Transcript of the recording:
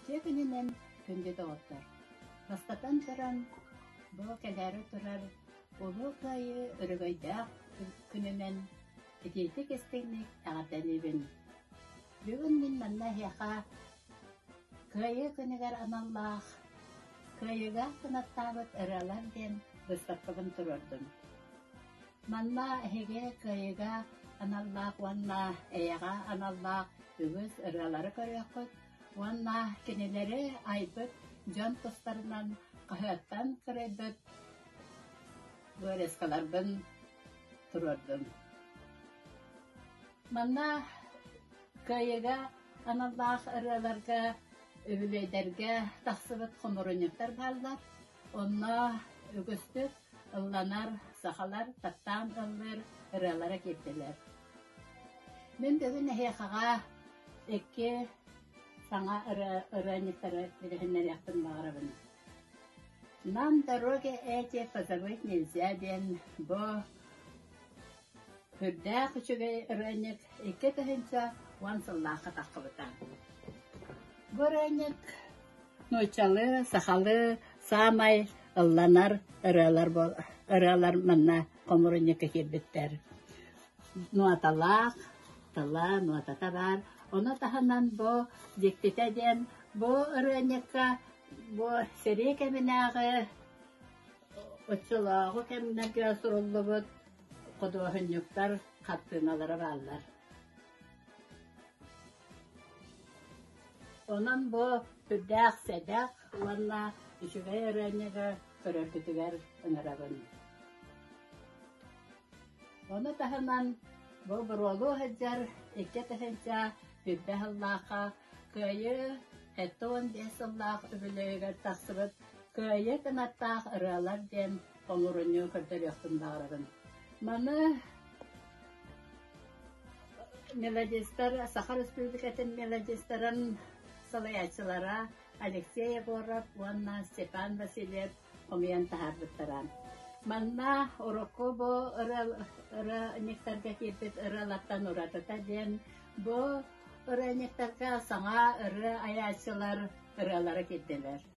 Дьиэ күнүнэн күндү доҕоттор! Бастатан туран, бу кэлээри турар Улуу Кыайыы өрөгөйдөөх күнүнэн итиитик-истиҥник эҕэрдэлиибин! Бүгүн мин манна эһиэхэ Кыайыы күнүгэр аналлаах Кыайыыга кынаттаабыт ырыалар диэн быыстапкабын туруордум. Манна эһиги кыайыыга аналлаах уонна эйэҕэ аналлаах үгүс ырыалары көрүөххүт уонна кинилэри айбыт дьон тустарынан хаһыаттан кырайбыт вырезкаларбын туруордум. Манна кыайыыга аналлаах ырыаларга үбүлүөйдэргэ тахсыбыт хомурунньуктар бааллар. Онно үгүстүк ылланар сахалар таптаан ыллыыр ырыалара киирдилэр. Мин бүгүн эһиэхэҕэ икки саҥа ырыанньыктары билиһиннэриэхпин баҕарабын. «Нам дороги эти позабыть нельзя» диэн бу Үрдээх үчүгэй ырыанньык икки тыһыынча уон сыллаахха таххыбыта. Бу ырыанньык нууччалыы, сахалыы саамай ылланар ырыалар буолар ырыалар манна хомурунньукка киирбиттэр. Нуоталаах, тыла, нуотата баар. Ону таһынан бу дьиктитэ диэн бу ырыанньыкка бу сэрии кэминээҕи Оччолооҕу кэмнэргэ суруллубут худуоһунньуктар хартыыналара бааллар. Онон бу сүрдээх сэдэх уонна үчүгэй ырыанньыгы көрөргүтүгэр ыҥырабын. Ону таһынан бу боруолу сылдьар икки тыһыынча Бүлбэ сыллаахха Кыайыы Этон биэс сыллаах үбүлүөйүгэр тахсыбыт Кыайыы кынаттаах ырыалар диэн холуурунньугу көрдөрүөхпүн баҕарабын. Маны мелодистар Саха Республикатын мелодистарын салайааччылара Алексей Егоров уонна Степан Васильев хомуйан таһаарбыттара. Манна Орокобо ырыанньыктарга киирбит ыралартан уратыта диэн бу ырыанньыктарга саҥа ырыа айааччылар ыралара киирдилэр.